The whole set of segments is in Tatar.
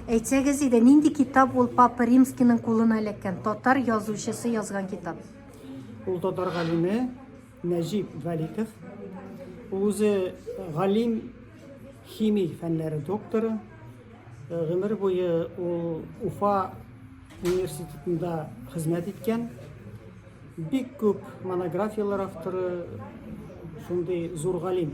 Әйтсәгез иде, нинди китап ул Папа Римскийның кулына эләккән, татар язучысы язган китап? Ул татар галиме Нәҗип Вәликов. Ул үзе галим, химик фәннәре докторы. Э, гомер буе ул Уфа университетында хезмәт иткән. Бик күп монографияләр авторы, шундый зур галим.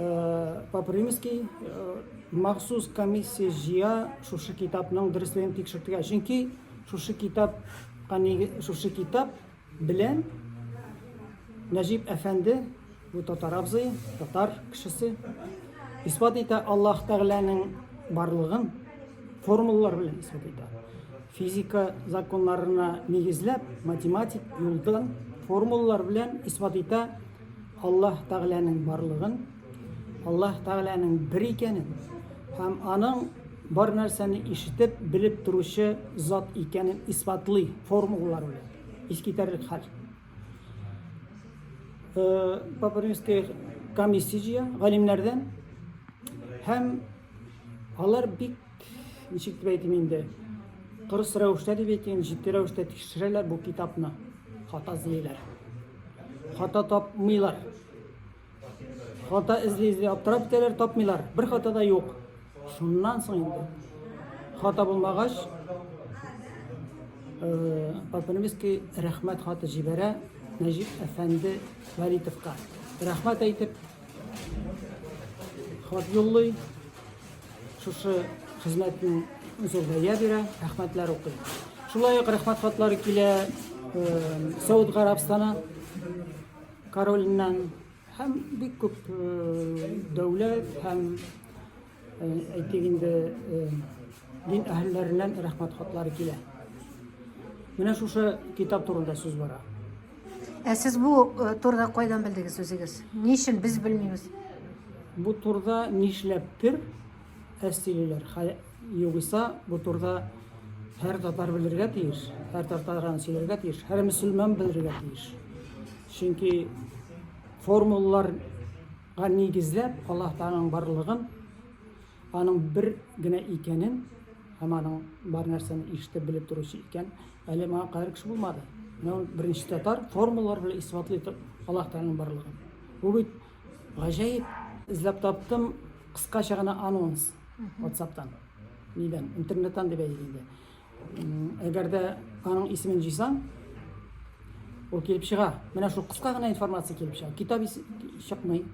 Э, по примески э, махсус комиссия жия шушы китапның дөресленеп тикшертергә чөнки шушы китап шушы китап белән нәҗип әфәнде бу татар абзый татар кешесе исбат итә аллаһ тәгаләнең барлыгын формулалар белән исбат итә физика законнарына нигезләп математик юлдан формулалар белән исбат итә Аллаһ Тәгаләнең барлыгын, Аллаһ Тәгаләнең бер икәнен һәм аның бар нәрсәне ишетеп, белеп торучы зат икәнен исбатлый формулалар белән. Искитәрлек хәл. Э, Папа Римский комиссия галимнәрдән һәм алар бик Ничек дип әйтим инде? Кырыс рәвештә дип әйтим, җитди рәвештә тикшерәләр бу китапны. Хата эзлиләр. Хата тапмыйлар. Хата эзли-эзли аптырап китәләр, тапмыйлар. Бер хата да юк. Шуннан соң инде хата булмагач, э, Папаневский рәхмәт хаты җибәрә Нәҗип әфәнде Валитовка. Рәхмәт әйтеп, хат юллый. Шушы хезмәтне үзәк бәя бирә, рәхмәтләр укый. Шулай ук рәхмәт хатлары килә Сауд Гарабстаны королиннән һәм бик күп дәүләт һәм әйтик инде дин әһелләреннән рәхмәт хатлары килә. Менә шушы китап турында сүз бара. Ә сез бу э, турыда кайдан белдегез үзегез? Ни өчен без белмибез? Бу турыда нишләптер әстилеләр. Югыйса бу турыда һәр татар белергә тиеш, һәр татар сөйләргә тиеш, һәр мөселман белергә тиеш. Чөнки формулаларга нигезләп Аллаһ Тааның барлыгын Аның бер генә икәнен һәм аның бар нәрсәне ишетеп белеп торучы икән, әле моңа кадәр кеше булмады. Менә ул беренче татар формулалар белән исбатлый торып Аллаһ Тәгаләнең барлыгын. Бу бит гаҗәеп. Эзләп таптым кыскача гына анонс WhatsApp-тан. Нидән? Интернеттан дип әйтик инде. М, Әгәр дә аның исемен җыйсаң, ул килеп чыга. Менә шул кыска гына информация килеп чыга. Китап ис- чыкмый.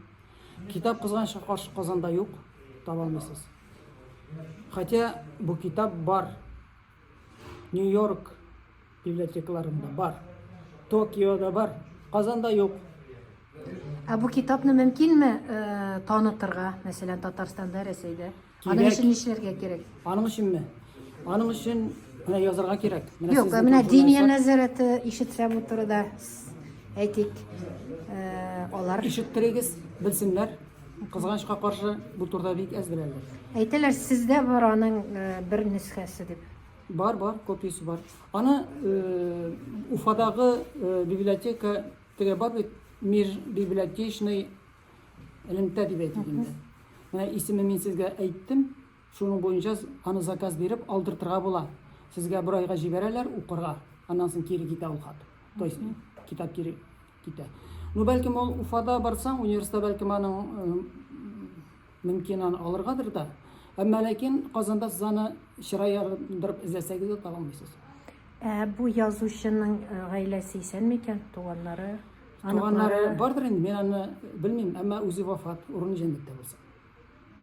Китап кызганчы каршы Казанда юк, таба алмыйсыз. Хотя бу китап бар. Нью-Йорк библиотекаларында бар. Токиода бар. Казанда юк. Ә бу китапны мөмкинме э, танытырга, мәсәлән, Татарстанда, Рәсәйдә? Аның өчен нишләргә кирәк? Аның өченме? Аның өчен менә язарга кирәк. Менә Юк, менә диния нәзарәте ишетсәм утыруда әйтик, э, алар ишеттерегез, белсеннәр. Кызганычка каршы бу турыда бик әз беләләр. Әйтәләр, сездә бар аның э, бер нөсхәсе дип. Бар, бар, копиясе бар. Аны э, Уфадагы библиотека теге бар бит, межбиблиотечный элемтә дип әйтик инде. Менә исеме мин сезгә әйттем, шуның буенча аны заказ биреп алдыртырга була. Сезгә бер айга җибәрәләр укырга, аннан соң кире китә ул хат. То есть китап кире китә. Ну, бәлкем ул Уфада барсаң, университетта бәлкем аның мөмкин аны алыргадыр да. Әмма ләкин Казанда сез аны чыра ярдырып эзләсәгез дә таба алмыйсыз. Ә бу язучының гаиләсе исән микән, туганнары? Туганнары бардыр инде, мин аны белмим, әмма үзе вафат, урыны җәннәттә булсын.